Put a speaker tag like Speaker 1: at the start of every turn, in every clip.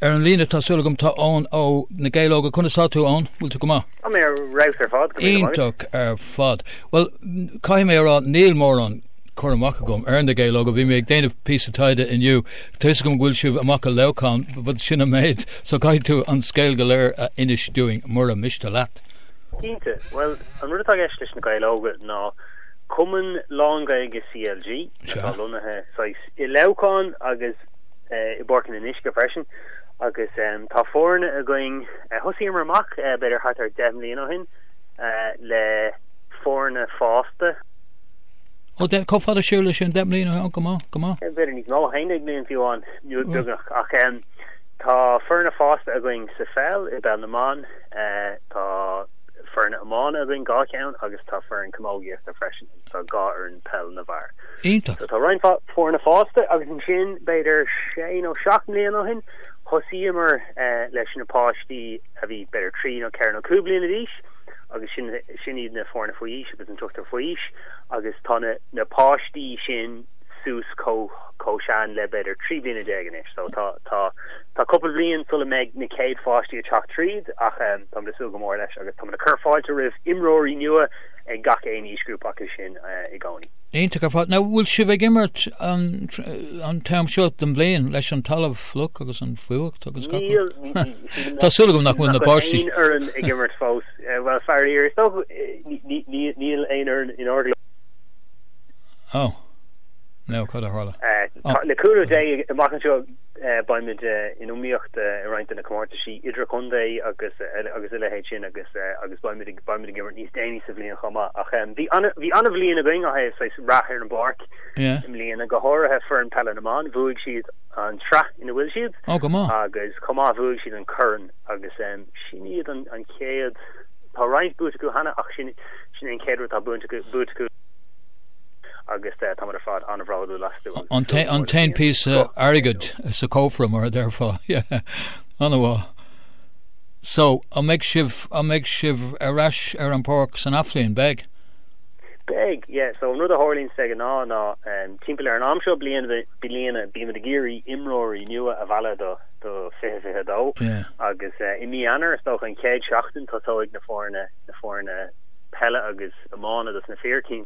Speaker 1: Ar an líne, tá súil agam, tá Eoin ó Na Gaeil Óga. Conas tá tú, Eoin? Bhfuil tú go maith? Tá mé ar fheabhas
Speaker 2: ar fad, go míle maith. Iontach
Speaker 1: ar fad. Bhuel, caithfidh mé a rá, níl mórán cur amach agam ar Na Gaeil Óga. Bhí mé ag déanamh píosa taighde inniu. Tá fhios agam go bhfuil sibh amach i Leamhcán, but sin an méid, so caithfidh tú an scéal go léir a inis dúinn, mura miste leat. Cinnte.
Speaker 2: Bhuel, an rud atá i gceist leis Na Gaeil Óga ná cumann lán-Ghaeilge CLG atá lonnaithe saghas i Leamhcán agus, i bPáirc an Fhionnuisce freisin agus tá foirne againn, thosaíomar amach b'fhéidir thart ar deich mbliana ó shin le foirne fásta.
Speaker 1: Ó, deich, chomh fada siar leis sin, deich mbliana ó, go maith, go maith. B'fhéidir níos mó,
Speaker 2: haon déag bliain fiú amháin, nó beagnach, ach tá foirne fásta againn sa pheil i bpeil na mban, tá foirne iomána againn dhá cheann agus tá foireann camógaíochta freisin, tá dhá fhoireann peil na bhfear. So tá roinnt foirne fásta agus ansin b'fhéidir sé nó seacht mbliain ó shin thosaíomar leis na páistí a bhí b'fhéidir trí nó ceithre nó cúig bliana d'aois agus sin sin iad na foirne faoi aois agus an t-ochtar faoi aois agus tá na na páistí sin suas chomh chomh sean le b'fhéidir trí bliana déag anois so tá tá tá cúpla bhliain sula mbeidh na céad pháistí ag teacht tríd ach eh tá muid ag súil go mór leis agus tá muid ag cur fáilte roimh imreoirí nua ag gach aon aoisghrúpa acu sin eh i gcónaí. Iontach ar fad. Now,
Speaker 1: bhfuil sibh ag imirt an t-am seo den bhliain leis an talamh fliuch agus an fuacht agus gach rud? Tá súil agam nach bhfuil na páistí. Níl éinne ag imirt
Speaker 2: fós. Eh, well, fear iar, so níl aon orainn in
Speaker 1: orgla. Oh. No, cad a tharla? Eh, oh. Na cúla dé
Speaker 2: i mac an seo Beimid in iomaíocht i roinnt de na comórtaisí idir-chontae agus a leithéid sin agus beimid ag imirt níos déanaí sa bhliain chomh maith ach bhí an-bhliain againn ó saghas rath ar an bpáirc i mbliana, go háirithe foireann peile na mban, bhuaigh siad an tsraith ina bhfuil siad, go maith, agus
Speaker 1: chomh maith bhuaigh siad
Speaker 2: an corn agus sin iad an chéad, tá roinnt buaite acu cheana ach sin é an chéad rud atá buaite acu. agus táimid ar fad an-bhródúil astu. An-deas,
Speaker 1: píosa airgid sa cófra, mar a déarfá. An-mhaith. So, an mbeidh sibh, an mbeidh sibh ar ais ar an bpáirc san athbhliain? Beidh? Beidh,
Speaker 2: yeah. So, an rud a tharlaíonn, sea, ná, timpeall ar an am seo bliana, bímid ag iarraidh imreoirí nua a mhealladh do 2022. Agus i mí Eanáir, is dócha, an chéad seachtain, tosóidh na foirne, na foirne peile agus iomána dos na fir, cinnte.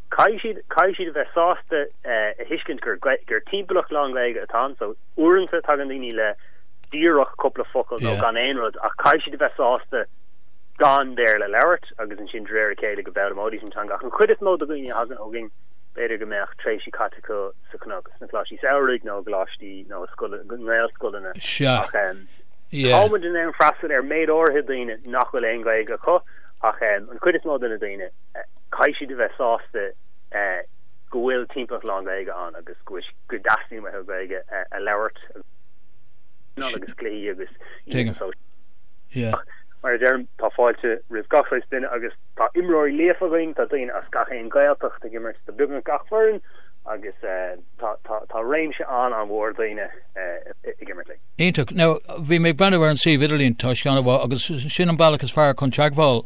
Speaker 2: Caithfidh siad a bheith sásta a thuiscint gur timpeallacht lán-Ghaeilge atá anso. Uaireanta tagann daoine le díreach cúpla focal nó gan aon rud ach caithfidh siad a bheith sásta gan Béarla a labhairt agus ansin de réir a chéile go bhfoghlaimeoidís an teanga. Ach an chuid is mó de dhaoine a thagann chugainn b'fhéidir go mbeadh tréimhsí caite acu sa chnoc, sna coláistí samhraidh nó i gcoláistí nó i ngaelscoileanna ach táimid in ann freastal ar mhéid áirithe daoine nach bhfuil aon Ghaeilge acu ach an chuid is mó de na daoine Caithfidh siad a bheith sásta go bhfuil timpeallacht lán-Ghaeilge ann agus go dteastaíonn uathu Gaeilge a labhairt ag traenáil agus cluichí agus oícheanta sóisialta. Ach, mar a deirim, tá fáilte roimh gach saghas duine agus tá imreoirí líofa againn, tá daoine as gach aon Ghaeltacht ag imirt do beagnach gach foireann agus tá réimse an-an-mhór daoine ag imirt linn. Iontach. Now, bhí
Speaker 1: mé ag breathnú ar an suíomh idirlín, tá sé an-mhaith agus sin an bealach is fearr chun teagmháil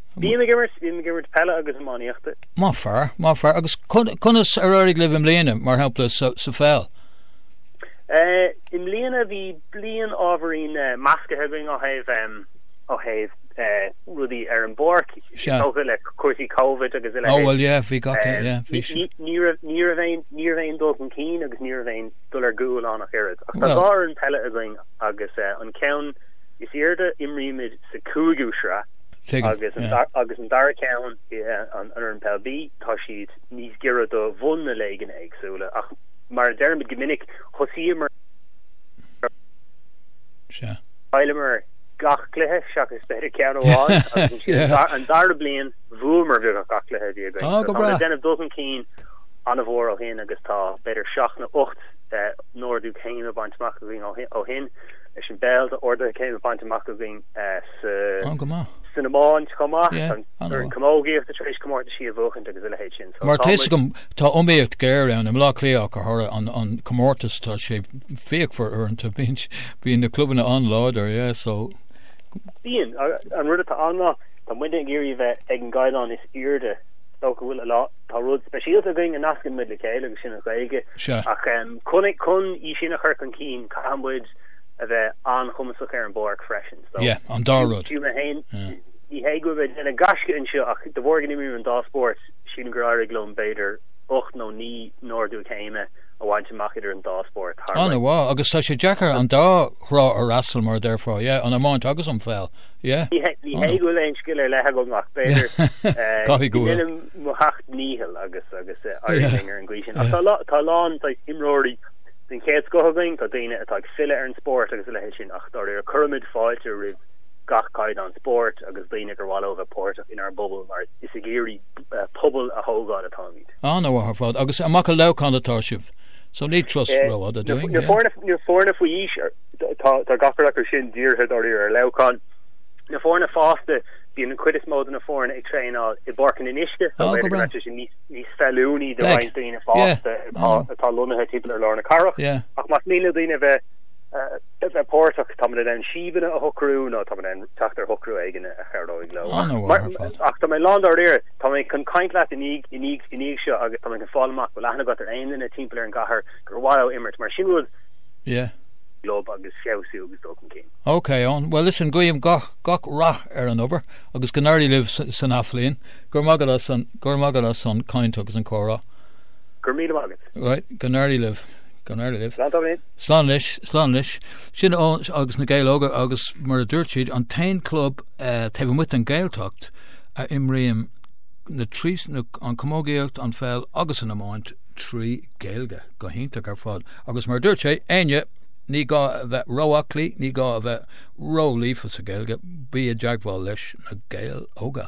Speaker 1: Bím ag
Speaker 2: imirt, bím ag imirt peile agus iománaíochta. Má fearr, má
Speaker 1: fearr. Agus conas ar éirigh libh i mbliana, mar shampla, sa pheil?
Speaker 2: Eh, i mbliana bhí bliain ábhairín eh, measctha againn ó thaobh em, ó thaobh eh, rudaí ar an bpáirc, Sea. tógtha le cúrsaí Covid agus a Ó, leithéid. bhuel, yeah, bhí gach, Em, yeah, bhí ní,
Speaker 1: ní, siad. ní raibh,
Speaker 2: ní raibh aon, ní raibh aon dul chun cinn agus ní raibh aon dul ar gcúl ann ach oiread. Ach tá Bhuel. dhá fhoireann peile againn agus eh, an ceann is airde imrímid sa cúigiú sraith, Agus an dara ceann, an fhoireann Peil B, tá siad níos giorra do bhun na léigean éagsúla, ach mar a deirimid go minic, thosaíomar Sea. Chaileamar gach cluiche seachas b'fhéidir ceann amháin agus ansin an dara bliain bhuamar beagnach gach cluiche a bhí againn. Tá muid ag déanamh dul chun cinn an-mhór ó shin agus tá b'fhéidir seacht nó ocht n-ordú céime bainte amach againn ó shin leis an bpeil d'orduithe céime bainte amach againn An-mhaith. San iomáint chomh maith. Yeah, An I know. chamógaíocht tar éis comórtaisí a bhuachaint agus a leithéid sin. So Mar tá a fhios agam,
Speaker 1: tá iomaíocht ghéar ann. I mBlá Cliathach de thoradh an an comórtas tá sé fíochmhar uaireanta. Bíonn bíonn na clubanna an-láidir, yeah, so.
Speaker 2: Bíonn. An rud atá ann ná tá muide ag iarraidh a bheith ag an gcaighdeán is airde dá bhfuil ar fáil. Tá rud speisialta againn a nascann muid le chéile agus sin an Ghaeilge. Sea. Ach chun chun í sin a chur chun cinn caithfidh muid a bheith an-chumasach ar an bpáirc freisin. So, Yeah, an dá rud.
Speaker 1: Fiú mé féin,
Speaker 2: ní hé go bhfuil mé ag déanamh gaisce anseo ach de bharr go n-imrímid an dá spórt, sílim gur éirigh liom b'fhéidir ocht nó naoi n-ordú céime a bhaint amach idir an dá spórt thar na blianta. Ana mhaith, agus tá
Speaker 1: sé deacair an dá thrá a fhreastal mar a deirfeá, yeah, an iomáint agus an pheil, yeah. Ní hé, ní
Speaker 2: hé go bhfuil aon scil ar leith agam ach b'fhéidir, eh, Caithfidh go go bhfuil. ndéanaim mo theacht ndícheall agus, agus, eh, éiríonn liom ar an gcaoi sin. Ach tá a lán, tá a lán, saghas, imreoirí, den chéad scoth againn, tá daoine atá ag filleadh ar an spórt agus a leithéid sin ach dáiríre cuirimid fáilte roimh gach caighdeán spóirt agus daoine gur mhaith leo a bheith páirteach inár bpobal mar is ag iarraidh pobal a thógáil atáimid. Ana-mhaith ar fad, agus
Speaker 1: amach i Leamhcán atá sibh, so ní turas rófhada dúinn, yeah. Na
Speaker 2: foirne faoi aois, tá gach ar acu sin dírithe dáiríre ar Leamhcán. Na foirne fásta, bíonn an chuid is mó de na foirne ag traenáil i bPáirc an Fhionnuisce, so b'fhéidir go mbeadh sé sin níos níos feiliúnaí do roinnt daoine fásta atá lonnaithe timpeall ar lár na cathrach, ach más mian le daoine a bheith a bheith páirteach, tá muid in ann síobanna a shocrú nó tá muid in ann teacht ar shocrú éigin a chabhróidh leo. Ach tá mé lán dáiríre, tá mé chun caint leat i ndiaidh i ndiaidh i ndiaidh seo agus tá mé chun fáil amach an bhfuil aithne agat ar aon duine timpeall ar an gcathair gur mhaith leo imirt, mar sin rud club agus feabhsú agus dul chun cinn. Ok, Eoin, bhuel listen,
Speaker 1: guím gach rath ar an obair agus go n-éirí libh san athbhliain. Go raibh maith agat as an, go raibh maith agat as an chaint agus an comhrá. Go raibh míle maith
Speaker 2: agat. Right, go
Speaker 1: n-éirí libh, go n-éirí libh. Slán tamall. Slán anois, slán anois. Sin Eoin agus na Gaeil Óga agus mar a dúirt siad, an t-aon club taobh amuigh den Gaeltacht a imríonn na trí, an camógaíocht, an pheil agus an iomáint trí Ghaeilge. Go hiontach ar fad. Agus mar a dúirt sé, éinne, ní gá a bheith róaclaí, ní gá a bheith ró-líofa sa Ghaeilge, bí i dteagmháil leis Na Gaeil Óga.